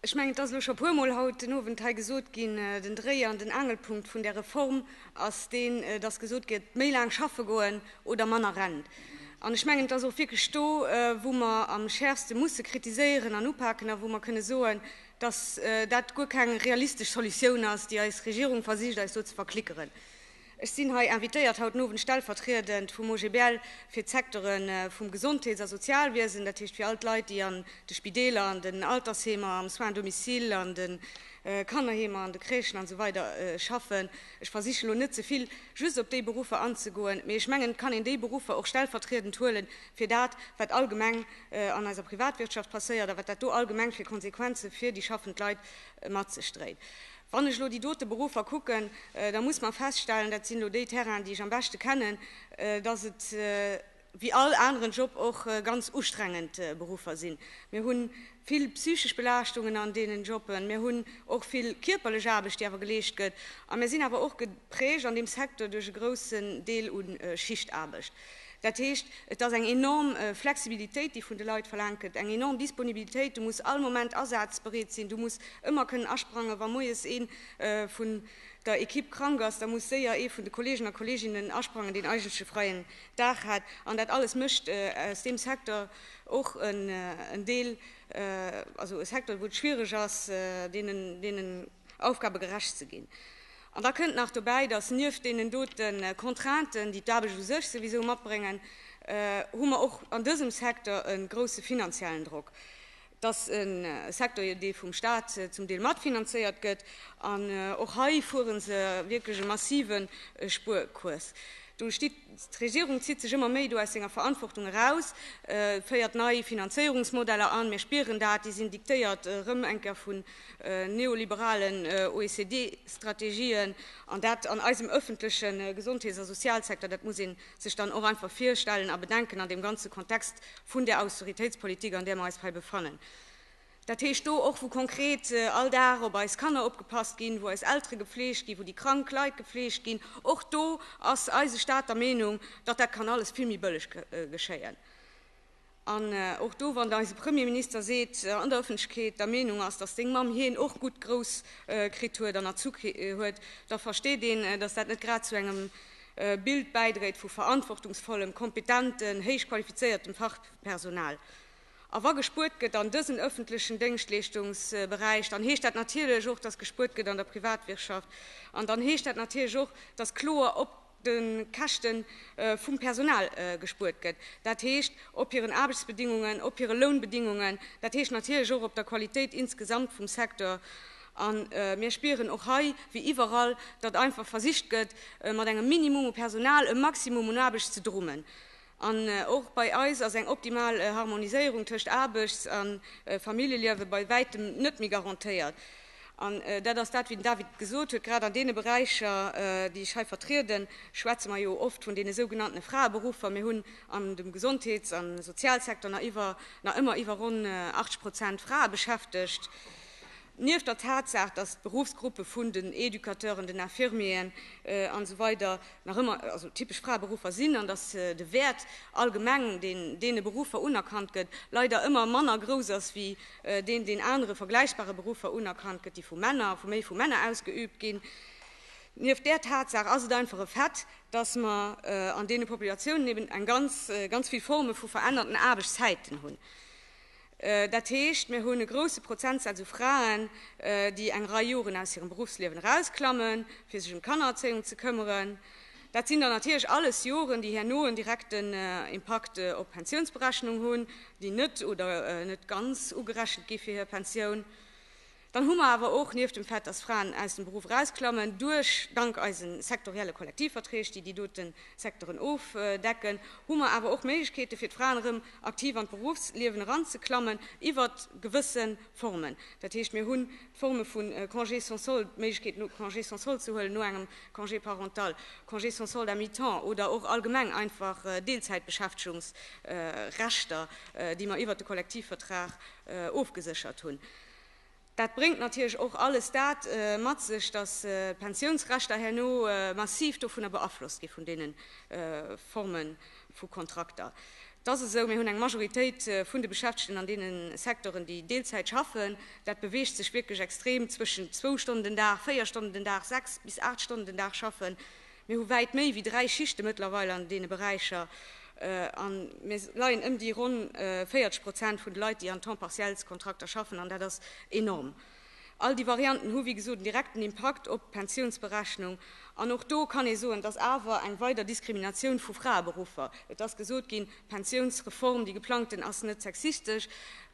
Ech mengen, et ass elo scho e puermol haut den Owend hei gesot ginn, den Dréi an den Angelpunkt vun där Reform ass deen, dass gesot gëtt, méi laang schaffe goen oder manner Rent. An ech mengen, et ass och wierklech do, wou mer am schärfste musse kritiséieren an upaken a wou mer kënne soen, dass dat guer keng realistesch Solutioun ass, déi eis Regierung versicht eis do ze verklickeren. Ech sinn hei invitéiert haut den Owend stellvertriedend vum OGBL fir d'Secteure vum Gesondheets a Sozialwiesen, dat heescht fir all d'Leit, déi an de Spideeler, an den Altersheemer, am Soins domicile, an de Kannerheemer, an de Crèchen an esou weider schaffen. Ech versichen elo net ze vill just op déi Beruffer anzegoen, mee ech mengen, et kann een déi Beruffer och stellvertriedend huele fir dat, wat allgemeng an eiser Privatwirtschaft passéiert a wat dat do allgemeng fir Konsequenze fir déi schaffend Leit mat sech dréit. Wann ech elo déi dote Beruffer kucken, da muss mer feststellen, dat sinn elo déi Terrainen, déi ech am beschte kennen, dass et wéi all aneren Job och ganz ustrengend Beruffer sinn. Mir hu vill psychesch Belaaschtungen an deenen Jobben, mir hunn och vill kierperlech Aarbecht, déi awer geleescht gëtt a mir sinn awer och geprägt an deem Secteur duerch e groussen Deel u Schichtaarbecht. Dat heescht, et ass eng enorm Flexibilitéit, déi vun de Leit verlaangt gëtt, eng enorm Disponibilitéit. Du muss all Moment asazbereet sinn, du muss ëmmer kënnen asprangen. Wa moies ee vun der Ekipp krank ass, da muss séier ee vun de Kolleegen a Kolleeginnen asprangen, deen eigentlech e freien Dag hat. An dat alles mécht aus deem Secteur och en Deel, also e Secteur, wou et schwiereg ass, deenen, deenen, Aufgabe gerecht ze ginn. An da kënnt nach dobäi, dass nieft deenen dote Contrainten, déi d'Aarbecht u sech souwisou matbréngen, hu mer och an dësem Secteur e grousse finanziellen Drock. Et ass e Secteur, dee vum Stat zum Deel matfinanzéiert gëtt. An och hei fuere se wierklech e massive Spuerkurs. Do steet. D'Regierung zitt sech ëmmer méi do aus senger Verantwortung eraus, féiert nei Finanzéierungsmodeller an, mir spieren dat, déi sinn diktéiert erëm eng Kéier vun neoliberalen OECD-Strategien, an dat an eisem ëffentleche Gesondheets a Sozialsecteur. Dat muss ee sech dann och einfach virstellen a bedenken an deem ganze Kontext vun där Austeritéitspolitik, an där mer eis hei befannen. Dat heescht do och, wou konkret all Dag op eis Kanner opgepasst ginn, wou eis Eltere gefleegt ginn, wou déi krank Leit gefleegt ginn. Och do ass eise Staat der Meenung, datt dat kann alles vill méi bëlleg geschéien. An och do, wann eise Premierminister seet, an der Ëffentlechkeet der Meenung ass, datt seng Mamm hien och gutt grouss kritt huet an erzu huet, da versteet een, datt dat net grad zu engem Bild bäidréit vu verantwortungsvollem, kompetenten, héich qualifizéiertem Fachpersonal. A wa gespuert gëtt an dësen öffentlechen Déngschtleeschtungsberäich, dann heescht dat natierlech och, dass gespuert gëtt an der Privatwirtschaft. An dann heescht dat natierlech och, dass kloer op de Käschte vum Personal gespuert gëtt, dat heescht op hiren Aarbechtsbedingungen, op hire Lounbedingungen, dat heescht natierlech och op der Qualitéit insgesamt vum Secteur. A mir spieren och hei wéi iwwerall, datt einfach versicht gëtt, mat engem Minimum u Personal e Maximum un Aarbecht ze drummen. An och bei eis ass eng optimal Harmoniséierung tëscht Aarbechts a Familljeliewe bei wäitem net méi garantéiert. An dat ass dat, wéi den David gesot huet, grad an deene Beräicher, déi ech hei vertrieden, schwätze mer jo oft vun deene sougenannten Fraeberuffer. Mir hunn an dem Gesondheets a Sozialsektor nach ëmmer iwwer ronn 80 Prozent Frae beschäftegt. Nieft der Tatsaach, dass d'Beruffsgruppe vun den Educateuren, den Infirmieren an esou weider nach ëmmer also typesch Fraeberuffer sinn an dass de Wäert allgemeng, deen deene Beruffer unerkannt gëtt, leider ëmmer manner grouss ass wéi deen, deen anere vergläichbare Beruffer unerkannt gëtt, déi vu Männer, vu méi vu Männer ausgeübt ginn, nieft där Tatsaach ass et einfach e Fait, dass mer an deene Populatiounen eben eng ganz, ganz vill Forme vu verännerten Aarbechtszäiten hunn. Dat heescht, mir hunn e grousse Prozentsaz u Fraen, déi eng Rei Joren aus hirem Beruffsliewen erausklammen, fir sech ëm d'Kannererzéiung ze këmmeren. Dat sinn dann natierlech alles Joren, déi herno en direkten Impakt op d'Pensiounsberechnung hunn, déi net oder net ganz ugerechent gi fir hir Pensioun. Dann hu mer awer och, nieft dem Fait, dass Fraen aus dem Beruff erausklammen, duerch, dank eise sektorielle Kollektivverträg, déi déi dote Secteuren ofdecken, hu mer awer och Méiglechkeete fir d'Fraen erëm aktiv an d'Beruffsliewen eranzeklammen iwwert gewësse Formen. Dat heescht, mir hunn d'Forme vu Congé sans solde, d'Méiglechkeet no Congé sans solde ze huelen, no engem Congé parental, Congé sans solde à mi-temps oder och allgemeng einfach Deelzäitbeschäftegungsrechter, déi mer iwwert de Kollektivvertrag ofgeséchert hunn. Dat bréngt natierlech och alles dat mat sech, dass d'Pensiounsrechter herno massiv dovunner beaflosst gi vun deene Forme vu Kontrakter. Et ass esou, mir hunn eng Majoritéit vun de Beschäftegten an deene Secteuren, déi Deelzäit schaffen. Dat beweegt sech wierklech extrem zwëschen zwou Stonnen den Dag, véier Stonnen den Dag, sechs bis aacht Stonnen den Dag schaffen. Mir hu wäit méi wéi dräi Schichte mëttlerweil an deene Beräicher a mir leien ëm déi ronn 40 Prozent vun de Leit, déi an Temps-partiels-Kontrakter schaffen, an dat ass enorm. All déi Varianten hu wéi gesot en direkten Impakt op d'Pensiounsberechnung. An och do kann ee soen, et ass awer eng weider Diskriminatioun vu Fraeberuffer. Et ass gesot ginn, d'Pensiounsreform, déi geplangten, ass net sexistesch.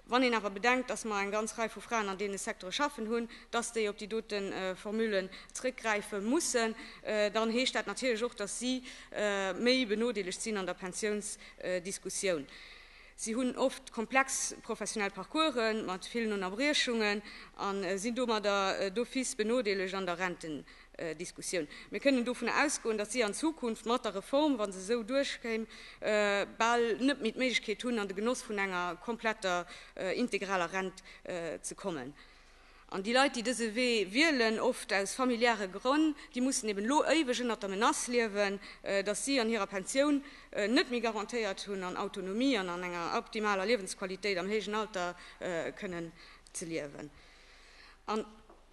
Wann een awer bedenkt, dass mer eng ganz Rei vu Fraen an deene Secteure schaffen hunn, dass déi op déi dote Formulen zrëckgräife mussen, dann heescht dat natierlech och, dass si méi benodeelegt sinn an der Pensiounsdiskussioun. Si hunn oft komplex professionell Parcourse mat villen Ënnerbriechungen a sinn domadder d'office benodeelegt an der Rentendebatt. Diskussioun. Mir kënnen dovun ausgoen, datt si an Zukunft mat der Reform, wa se esou duerchkéim, bal net méi d'Méiglechkeet hunn, an de Genoss vun enger kompletter integraler Rent ze kommen. An déi Leit, déi dëse Wee wielen, oft aus familiäre Grënn, déi mussen eben elo éiweg ënnert der Menace liewen, datt si an hirer Pensioun net méi garantéiert hunn, an Autonomie an an enger optimaler Liewensqualitéit am héijen Alter kënnen ze liewen.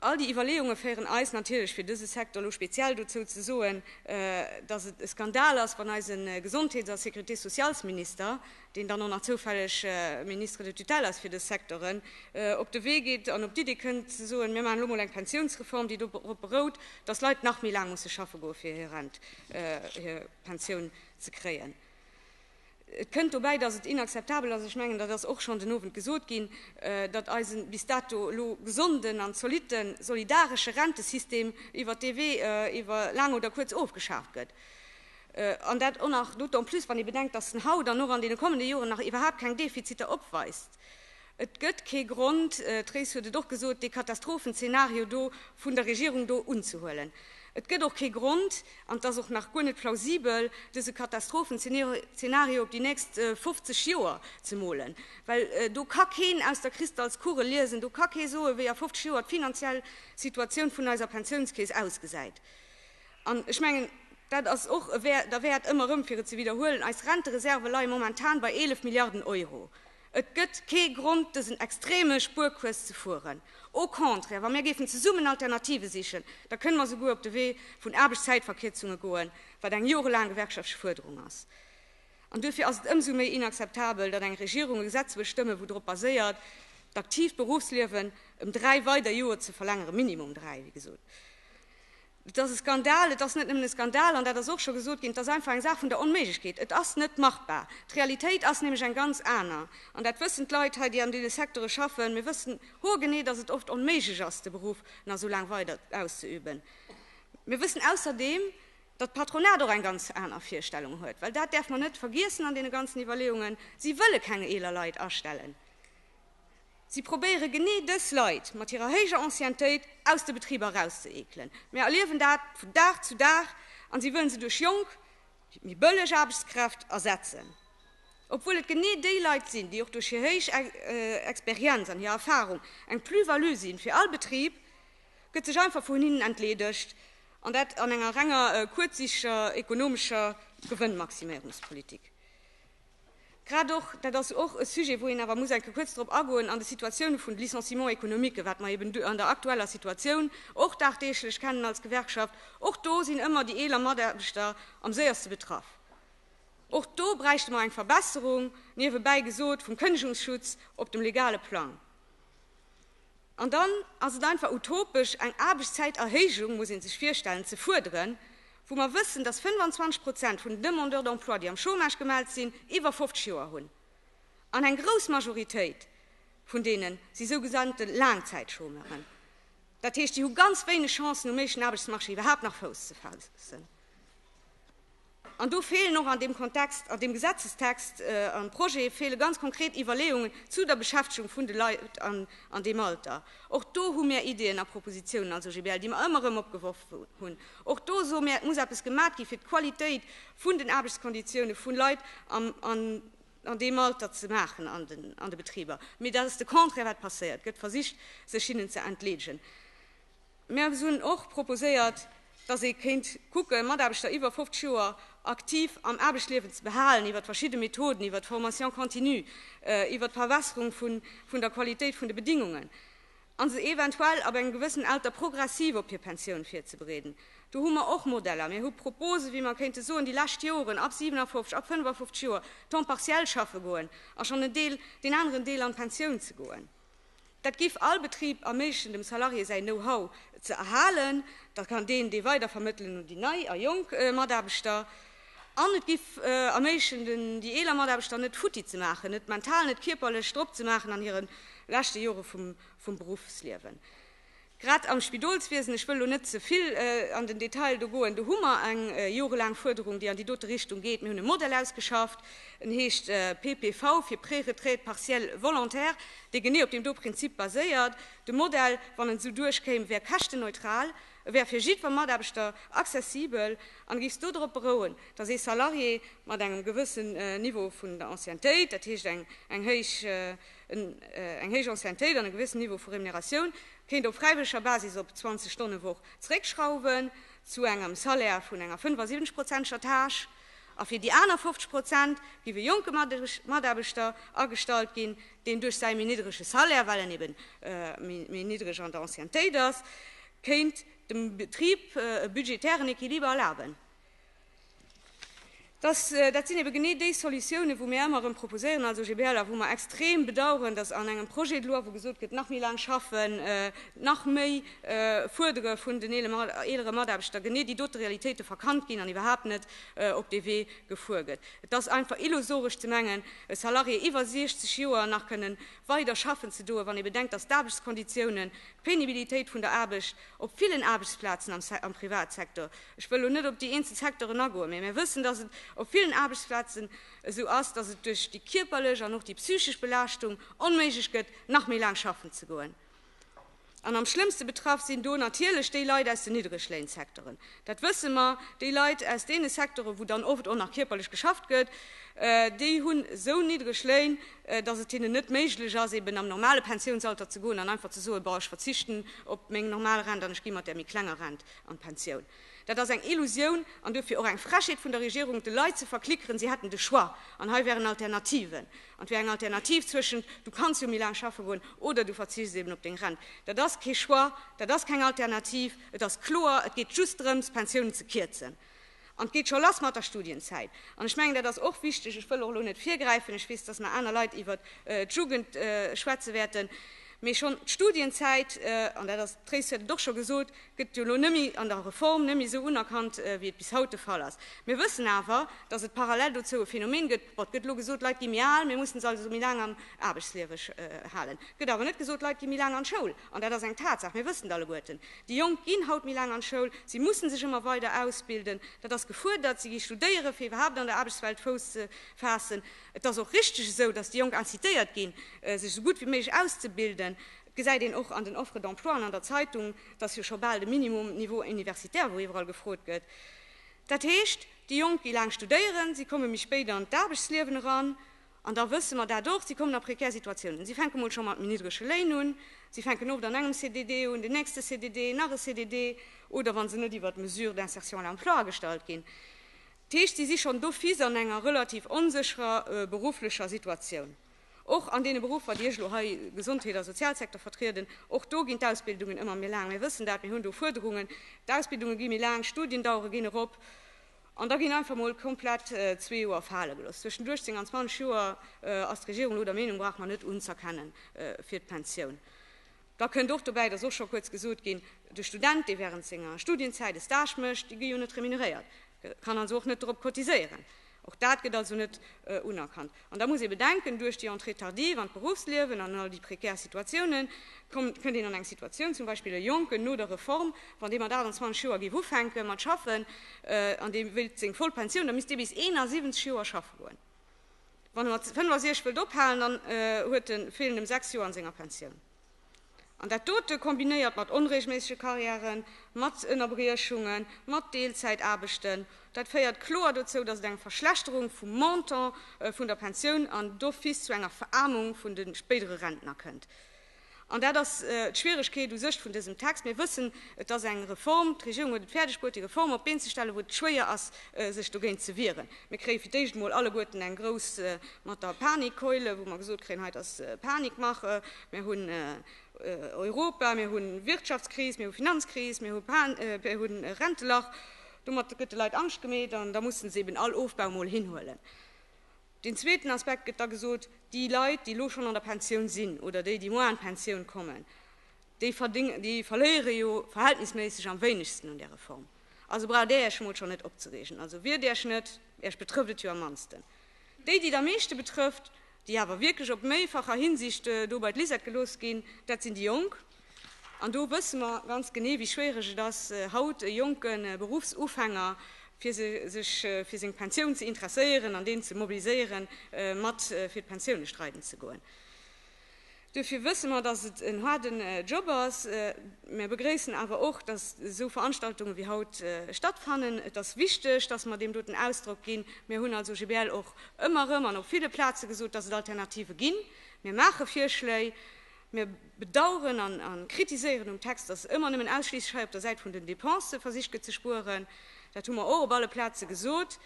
All déi Iwwerleeunge féieren eis natierlech, fir dëse Secteur elo speziell dozou ze soen, datt et e Skandal ass, wann eise Gesondheets a Sécurité-socialsminister, deen dann och nach zoufälleg Ministre de tutelle ass fir dës Secteuren, op de Wee geet an op d'Iddi kënnt ze soen, mir maachen elo mol eng Pensiounsreform, déi dorop berout, datt Leit nach méi laang musse schaffe goe fir hir Rent, hir Pensioun ze kréien. Et kënnt dobäi, datt et inakzeptabel ass, ech mengen, dat ass och schonn den Owend gesot ginn, datt eise bis dato elo gesonden an zolitte solidaresche Rentesystem iwwert dee Wee iwwer laang oder kuerz ofgeschaaft gëtt. An dat och nach d'autant plus, wann ee bedenkt, datt en haut an och an deene kommende Joren nach iwwerhaapt keng Defiziter opweist. Et gëtt kee Grond, d'Race huet et och gesot, dee Katastrophenzeenario do vun der Regierung do unzehuelen. Et gëtt och kee Grond, an et ass och nach guer net plausibel, dese Katastrophenzeenario op déi nächst 50 Joer ze molen, well do ka keen aus der Kristallskugel liesen, do ka kee soen, wéi a 50 Joer d'finanziell Situatioun vun eiser Pensiounskeess ausgesäit. An ech mengen, dat ass och e Wäert derwäert, ëmmer erëm fir et ze widderhuelen, Eis Rentereserve leie momentan bei 11 Milliarden Euro. Et gëtt kee Grond, dësen extreme Spuerkurs ze fueren. Au contraire, wa mir géifen zesummen Alternative sichen, da kënne mer souguer op de Wee vun Aarbechtszäitverkierzunge goen, wat eng jorelaang gewerkschaftleche Fuerderung ass. An duerfir ass et ëmsou méi inakzeptabel, datt eng Regierung e Gesetz wëll stëmmen, wou drop baséiert, d'aktiivt Beruffsliewen ëm dräi weider Joer ze verlängeren, minimum dräi, wéi gesot. Et ass e Skandal, et ass net nëmmen e Skandal, an dat ass och scho gesot ginn, et ass einfach eng Saach vun der Onméiglechkeet. Et ass net machbar. D'Realitéit ass nämlech eng ganz aner. An dat wëssen d'Leit hei, déi an deene Secteure schaffen. Mir wëssen haargenee, dass et oft onméiglech ass, de Beruff nach esou laang weider auszeüben. Mir wëssen ausserdeem, datt d'Patronat och eng ganz aner Virstellung huet, well dat däerf mer net vergiessen an deene ganzen Iwwerleeungen, Si wëlle keng eeler Leit astellen. Si probéiere genee dës Leit mat hirer héijer Anciennetéit aus de Betriber erauszeekelen. Mir erliewen dat vun Dag zu Dag a si wëllen se duerch jonk, méi bëlleg Aarbechtskräft ersetzen, obwuel et genee déi Leit sinn, déi och duerch hir héich Experienz an hir Erfarung eng Plus-value si fir all Betrib, gëtt sech einfach vun hinnen entleedegt, an dat an enger renger kuerzsiichtger ekonomescher Gewënnmaximierungspolitik. Grad och, dat ass och e Sujet, wou een awer muss enke kuerz drop agoen, an de Situatiounen vun de Licenciements économiques, wat mer eben du an der aktueller Situatioun och dagdeeglech kennen als Gewerkschaft, och do sinn ëmmer déi eeler Mataarbechter am séierste betraff. Och do bräichte mer eng Verbesserung, niewebäi gesot, vum Kënnegungsschutz op dem legale Plang. An dann ass et einfach utopesch, eng Aarbechtszäiterhéijung, muss ee sech virstellen, ze fuerderen, wou mer wëssen, dass 25 Prozent vun den Demandeurs d'emploi, déi am Chômage gemellt sinn, iwwer 50 Joer hunn. An eng grouss Majoritéit vun deenen si sougesannte Laangzäitchômeuren. Dat heescht, déi hu ganz wéineg Chancen, um éischten Aarbechtsmarché iwwerhaapt nach Fouss ze faassen. An do feelen och an deem Kontext, an deem Gesetzestext, am Projet feele ganz konkret Iwwerleeungen zu der Beschäftegung vun de Leit an deem Alter. Och do hu mär Ideeën a Propositionen als OGBL, déi mer ëmmer erëm opgeworf hunn. Och do soe mär, et muss eppes gemat gi fir d'Qualitéit vun den Aarbechtskonditiounen vu Leit an deem Alter ze maachen an de Betriber. Mee dat ass de Contraire wat passéiert, et gëtt versicht sech hinnen ze entleedgen. Mir hunn och proposéiert, datt ee kéint kucken, Mataarbechter iwwer 50 Joer aktiv am Aarbechtsliewen ze behalen, iwwer verschidde Methoden, iwwer d'Formation continue, iwwer d'Verbesserung vun der Qualitéit vun de Bedingungen, a se eventuell ab engem gewëssen Alter progressiv op hir Pensioun virzebereeden. Do hu mer och Modeller. Mir hu Proposen, wéi mer kéinte soen, déi lescht Joren ab 57, ab 55 Joer temps partiel schaffe goen a schonn en Deel, deen aneren Deel an d'Pensioun ze goen. Dat géif all Betrib erméiglechen, dem Salarié säi Know-how ze erhalen. Da kann deen dee weider vermëttelen un déi nei a jonk Mataarbechter. An et géif erméiglechen, den, déi eeler Mataarbechter net futti ze maachen, net mental, net kierperlech drop ze maachen an hire leschte Jore vum Beruffsliewen. Grad am Spidolswiesen, ech wëll elo net ze vill an den Detail do goen, do hu mer eng jorelaang Fuerderung, déi an déi dote Richtung geet. Mir hunn e Modell ausgeschafft, en heescht PPV, fir Préretraite partiel volontaire, dee genee op deem do Prinzip baséiert. De Modell, wann en esou duerchkéim, wär käschtenneutral, e wär fir jiddwer Mataarbechter accessibel an e géif dodrop berouen, datt ee Salarié mat engem gewëssen Niveau vun der Anciennetéit, dat heescht eng héich, Eng héich Anciennetéit an e gewissen Niveau vu Remuneratioun kéint op fräiwëlleger Basis op 20 Stonnewoch zeréckschrauwen, zu engem Salaire vun enger 75 prozenteger Tâche. A fir déi aner 50 Prozent giff e jonke Mataarbechter agestallt ginn, deen duerch säi méi niddrege Salaire, well en eben méi niddreg an der Anciennetéit ass, kéint dem Betrib e budgetären Equiliber erlaben. Dass, dat sinn ebe genee déi Solutiounen, wou mir èmmer erëm proposéieren als OGBL a wou mer extrem bedauern, dass an engem Projet de loi, wou gesot gëtt, nach méi laang schaffen, nach méi fuerdere vun den eelere Mataarbechter, genee déi dote Realitéite verkannt ginn an iwwerhaapt net op dee Wee gefuer gëtt. Et ass einfach illusoresch ze mengen, e Salarié iwwer 60 Joer nach kënnen weider schaffen ze doen, wann ee bedenkt, dass d'Aarbechtskonditiounen, d'Pénibilitéit vun der Aarbecht op villen Aarbechtsplazen am Privatsektor, Ech wëll elo net op déi eenzel Secteuren agoen, mee mir wëssen, dass et op villen Aarbechtsplazen esou ass, dass et duerch déi kierperlech an och déi psychesch Belaaschtung onméiglech gëtt, nach méi laang schaffen ze goen. An am schlëmmste betraff sinn do natierlech déi Leit aus den Niddregléinsecteuren. Dat wësse mer. Déi Leit aus deene Secteuren, wou dann oft och nach kierperlech geschafft gëtt, déi hunn esou niddreg Léin, dass et hinnen net méiglech ass, eben am normale Pensiounsalter ze goen an einfach ze soen, Bon, ech verzichten op meng normal Rent an ech gi mat där méi klenger Rent an d'Pensioun. Dat ass eng Illusioun an duerfir och eng Frechheet vun der Regierung, de Leit ze verklickeren, si hätten de Choix an hei wären Alternativen. An et wär eng Alternativ zwëschent, du kanns jo méi laang schaffe goen oder du verzichts eben op deng Rent. Dat ass kee Choix, dat ass keng Alternativ. Et ass kloer, et geet just drëms, Pensiounen ze kierzen. An et geet scho lass mat der Studienzäit. An ech mengen, dat ass och wichteg, ech wëll och elo net virgräifen, ech weess, datt mer aner Leit iwwert d'Jugend schwätze wäerten, mee schonn d'Studienzäit, an dat ass, d'Tracy huet et och scho gesot, gëtt jo elo net méi an der Reform net méi esou unerkannt, wéi et bis haut de Fall ass. Mir wëssen awer, datt et parallel dozou e Phänomen gëtt, bon, et gëtt elo gesot, d'Leit gi méi al, mir mussen se also méi laang am Aarbechtsliewe halen. Et gëtt awer net gesot, d'Leit gi méi laang an d'Schoul. An dat ass eng Tatsaach, mir wëssen et alleguerten. Déi Jonk ginn haut méi laang an d'Schoul, si mussen sech ëmmer weider ausbilden, dat ass gefuerdert, si gi studéieren, fir iwwerhaapt an der Aarbechtswelt Fouss ze faassen. Et ass och richteg esou, datt déi Jonk incitéiert ginn, sech esou gutt wéi méiglech auszebilden. Et gesäit een och an den Offres d'emploi an an der Zeitung, datt jo scho bal de Minimum niveau universitaire, wou iwwerall gefrot gëtt. Dat heescht, déi Jonk gi laang studéieren, si komme méi spéit an d'Aarbechtsliewen eran. An da wësse mer dat och, si kommen a prekär Situatiounen. Si fänke mol scho mat méi niddrege Léin un, si fänken oft an engem CDD un, den nächste CDD, nach e CDD oder wa se net iwwert d'Mesure d'insertion à l'emploi agestallt ginn. Dat heescht, si si schonn d'office an enger relativ onsécherer berufflecher Situatioun. Och an deene Beruffer, déi ech elo hei, Gesondheet a Sozialsecteur, vertrieden, och do ginn d'Ausbildungen ëmmer méi laang. Mir wëssen dat, mir hunn do Fuerderungen. D'Ausbildunge gi méi laang, d'Studiendauere ginn erop. An da ginn einfach mol komplett zwee Joer fale gelooss. Zwëschen 18 an 20 Joer ass d'Regierung elo der Meenung, brauche mer net unzëerkennen fir d'Pensioun. Da kënnt och dobäi, dass och scho kuerz gesot ginn, de Student, dee während senger Studienzäit e Stage mécht, dee gi jo net remuneréiert, kann also och net dorop cotiséieren. Och dat gëtt also net unerkannt. An da muss ee bedenken, duerch déi Entrée tardive an d'Beruffsliewen an all déi prekär Situatiounen, kënnt een an eng Situatioun, zum Beispill e Jonken no der Reform, wann dee mat 28 Joer géif ufänke mat schaffen an dee wéilt seng voll Pensioun, da misst dee bis 71 Joer schaffe goen. Wann e mat 65 wëllt ophalen, dann huet e feelen em sechs Joer an senger Pensioun. An dat dote kombinéiert mat onreegelméissege Karriären, mat Ënnerbriechungen, mat Deelzäitaarbechten, dat féiert kloer dozou, datt et eng Verschlechterung vum Montant vun der Pensioun an d'office zu enger Veraarmung vun de spéidere Rentner kënnt. An dat ass d'Schwieregkeet u sech vun dësem Text. Mir wëssen, et ass eng Reform, d'Regierung huet et fäerdegbruet, déi Reform op d'Been ze stellen, wou et schwéier ass, sech dogéint ze wieren. Mir kréie fir d'éischt emol alleguerten eng grouss mat der Panikkeule, wou mer gesot kréien, hei, et ass Panikmache, mir hunn Europa, mir hu Wirtschaftskris, mir hu Finanzkris, mir hu Rentelach. Domat gëtt de Leit Angscht gemeet an da musse se eben all Ofbau emol hinhuelen. Deen zweeten Aspekt gëtt da gesot, déi Leit, déi elo schonn an der Pensioun sinn oder déi, déi moar an d'Pensioun kommen, Déi verléiere jo verhältnisméisseg am wéinegsten un där Reform. Also braucht Där Iech emol schonn net opzereegen. Also wiert Iech net, Iech betrëfft et jo am mannsten. Déi, déi et am meeschte betrëfft, déi awer wierklech op méifacher Hinsicht do bei d'Lisette gelooss ginn, dat sinn déi Jonk. An do wësse mer ganz genee, wéi schwiereg et ass, haut e jonke Beruffsufänger, fir sech fir seng Pensioun ze interesséieren an deen ze mobiliséieren, mat fir d'Pensioune streiden ze goen. Duerfir wësse mer, dass et en haarden Job ass. Mer begréissen awer och, dass esou Veranstaltungen wéi haut stattfannen. Et ass wichteg, dass mer deem doten Ausdrock ginn. Mer hunn als OGBL och ëmmer erëm an op ville Plaze gesot, dass et Alternative ginn. Mir maache Virschléi. Mir bedauern an kritiséieren um Text, dass ëmmer nëmmen ausschliisslech hei op der Säit vun den Dépensë versicht gëtt ze spueren. Dat hu mer och op alle Plaze gesot.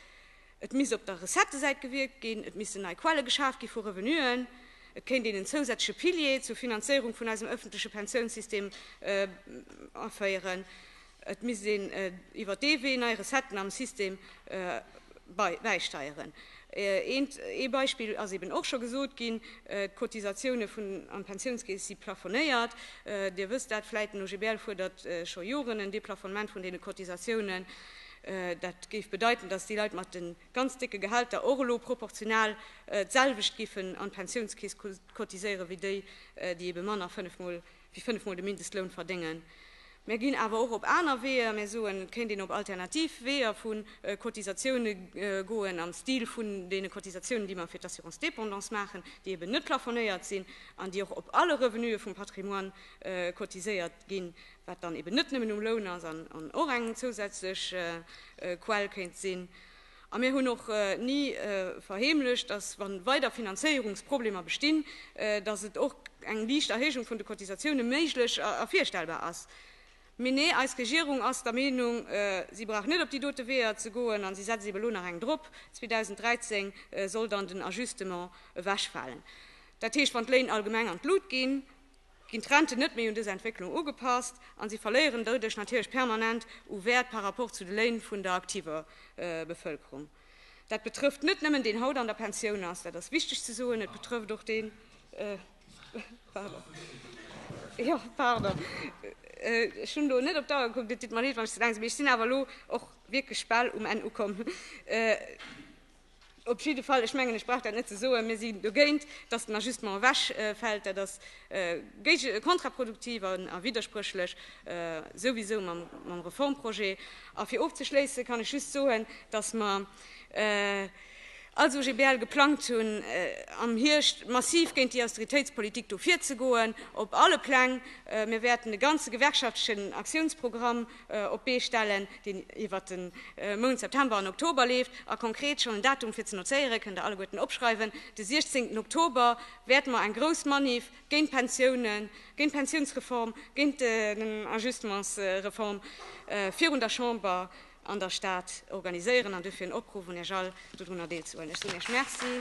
Et misst op der Recettësäit gewierkt ginn, et missten nei Quelle geschaf gi vu Revenuen, et kéint een en zousätzleche Pilier zur Finanzéierung vun eisem ëffentleche Pensiounssystem aféieren, et misst een iwwer dee Wee nei Recetten am System bäisteieren. Ee Beispill ass eeben och scho gesot ginn, D'Cotisatioune an d'Pensiounskeess si plafonéiert. Dir wësst dat vläicht, den OGBL fuerdert scho Joren en Deplafonnement vun deene Cotisatiounen. Dat géif bedeiten, datt déi Leit mat de ganz décke Gehälter och elo proportional d'selwecht géifen an d'Pensiounskeess cotiséieren, wéi déi, déi ebe manner wéi fënnef Mol de Mindestloun verdéngen. Mär ginn awer och op aner Weeër, mär soen, et kéint een op alternativ Weeër vu Cotisatioune goen, am Stil vun deene Cotisatiounen, déi mer fir d'Assurance dépendance maachen, déi eben net plafonnéiert sinn an déi och op alle Revenuë vum Patrimoine cotiséiert. ginn, wat dann eben net nëmmen um Loun ass an och eng zousätzlech Quell kéint sinn. A mir hunn och ni verheemlecht, dass, wa weider Finanzéierungsproblemer bestinn, dass et och eng liicht Erhéijung vun de Cotisatioune méiglech a virstellbar ass. Mee nee, eis Regierung ass der Meenung, si brauch net op déi dote Weeër ze goen a si setzt ebe lo nach eng drop, 2013 soll dann den Ajustement ewechfalen. Dat heescht, wann d'Léin allgemeng an d'Lut ginn, ginn d'Renten net méi un dës Entwécklung ugepasst a si verléieren doduerch natierlech permanent u Wäert par rapport zu de Léin vun der aktiver Bevëlkerung. Dat betrëfft net nëmmen deen haut an der Pensioun ass, dat ass wichteg ze soen, et betrëfft och deen, jo, pardon, ech hunn elo net op d'Auer gekuckt, et deet mer leed, wann ech ze laang sinn, mee ech sinn awer elo och wierklech bal um Enn ukomm. Op jidde Fall, ech mengen, ech brauch dat net ze soen, mir sinn dogéint, dass den Ajustement ewechfält. Dat ass kontraproduktiv a widderspréchlech souwisou mam Reformprojet. A fir ofzeschléisse kann ech just soen, dass mer als OGBL geplangt hunn, am Hierscht massiv géint déi Austeritéitspolitik do virzegoen, op alle Pläng. Mir wäerten de ganze gewerkschaftlechen Aktiounsprogramm, op d'Bee stellen, deen iwwert de Mount September an Oktober leeft. A konkret schonn en Datum fir ze nozéieren, kënnt der alleguerten opschreiwen, De 16 Oktober wäerte mer eng grouss Maniff géint d'Pensiounen, géint d'Pensiounsreform, géint den Agistements reform virun der Chamber an der Stad organiséieren an duerfir en Opruff un Iech all, dodrunner deelzehuelen. Ech soen Iech Merci.